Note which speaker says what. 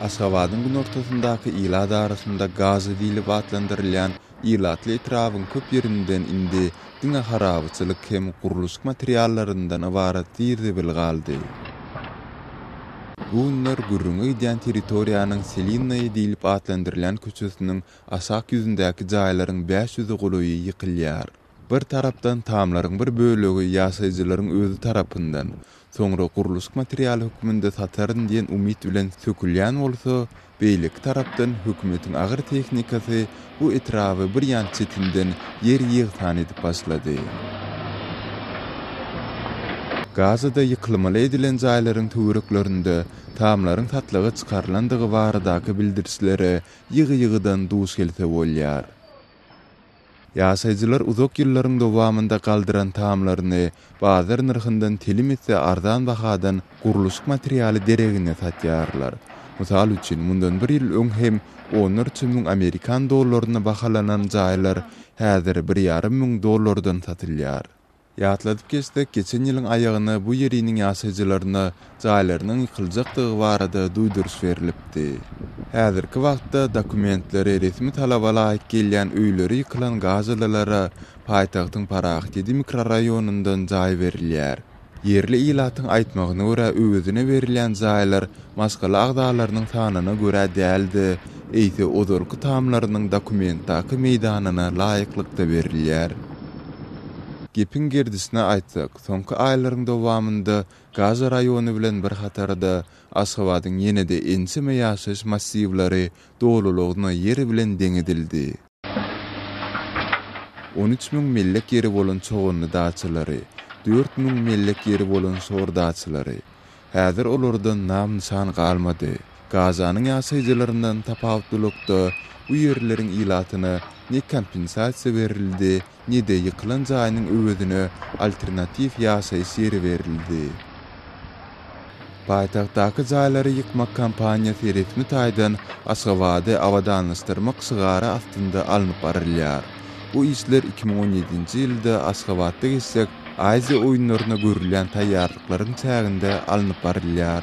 Speaker 1: Aşgabadyň günortasyndaky ilat arasynda Gaza diýlip atlandyrylýan ilatly etrabyň köp ýerinden indi diňe harabaçylyk hem gurluşyk materiallaryndan ybarat zir-zibil galdy. Bu günler gürrüňi gidýän territoriýanyň Selinnaýa diýlip atlandyrylýan köçesiniň aşak ýüzündäki jaýlaryň bäş ýüze golaýy ýykylýar. Bir tarapdan tamlaryň bir bölegi ýaşaýjylaryň özi tarapyndan, soňra gurluşyk materialy hökmünde sataryn diýen umyt bilen sökülýän bolsa, beýleki tarapdan hökümetiň agyr tehnikasy bu etraby bir ýan çetinden ýer ýegsan edip başlady. Gazada ýykylmaly edilen jaýlaryň töwereklerinde tamlaryň satlyga çykarylandygy baradaky bildirişlere ýygy-ýygydan duş gelse bolýar. Ýaşaýjylar uzak ýyllaryň dowamynda galdyran tamlaryny bazar nyrhyndan telim esse arzan bahadan gurluşyk materialy deregine satýarlar. Mysal üçin, mundan bir ýyl öň hem onlarça müň amerikan dollaryna bahalanan jaýlar häzir bir ýarym müň dollardan satylýar. Ýatladyp geçsek, geçen ýylyň aýagyna bu ýeriniň ýaşaýjylaryna jaýlarynyň ýykyljakdygy barada duýduryş berlipdi. Häzirki wagtda dokumentleri resmi talaba laýyk gelýän öýleri ýykylan gazalylara paýtagtyň Parahat ýedi mikroraýonyndan jaý berilýär. Ýerli ilatyň aýtmagyna görä, öwezine berilýän jaýlar maşgala agzalarynyň sanyna görä däl-de, eýse ozalky tamlarynyň dokumentdaky meýdanyna laýyklykda berilýär. Gepiň gerdisine aýtsak, soňky aýlaryň dowamynda Gaza raýony bilen bir hatarda, Aşgabadyň ýene-de ençeme ýaşaýyş massiwleri dolulygyna ýer bilen deň edildi. On üç müň mellek ýeri bolan çoganly daçalary, dört müň mellek ýeri bolan şor daçalary. Häzir olardan nam-nyşan galmady. Gazanyň ýaşaýjylaryndan tapawutlylykda, bu ýerleriň ilatyna ne kompensasiýa berildi, ne-de ýykylan jaýynyň öwezine alternatiw ýaşaýyş ýeri berildi. Paýtagtdaky jaýlary ýykmak kampaniýasy resmi taýdan Aşgabady abadanlaşdyrmak şygary astynda alnyp barylýar. Bu işler iki müň on ýedinji ýylda Aşgabatda geçjek Aziýa oýunlaryna görülýän taýýarlyklaryň çäginde alnyp barylýar.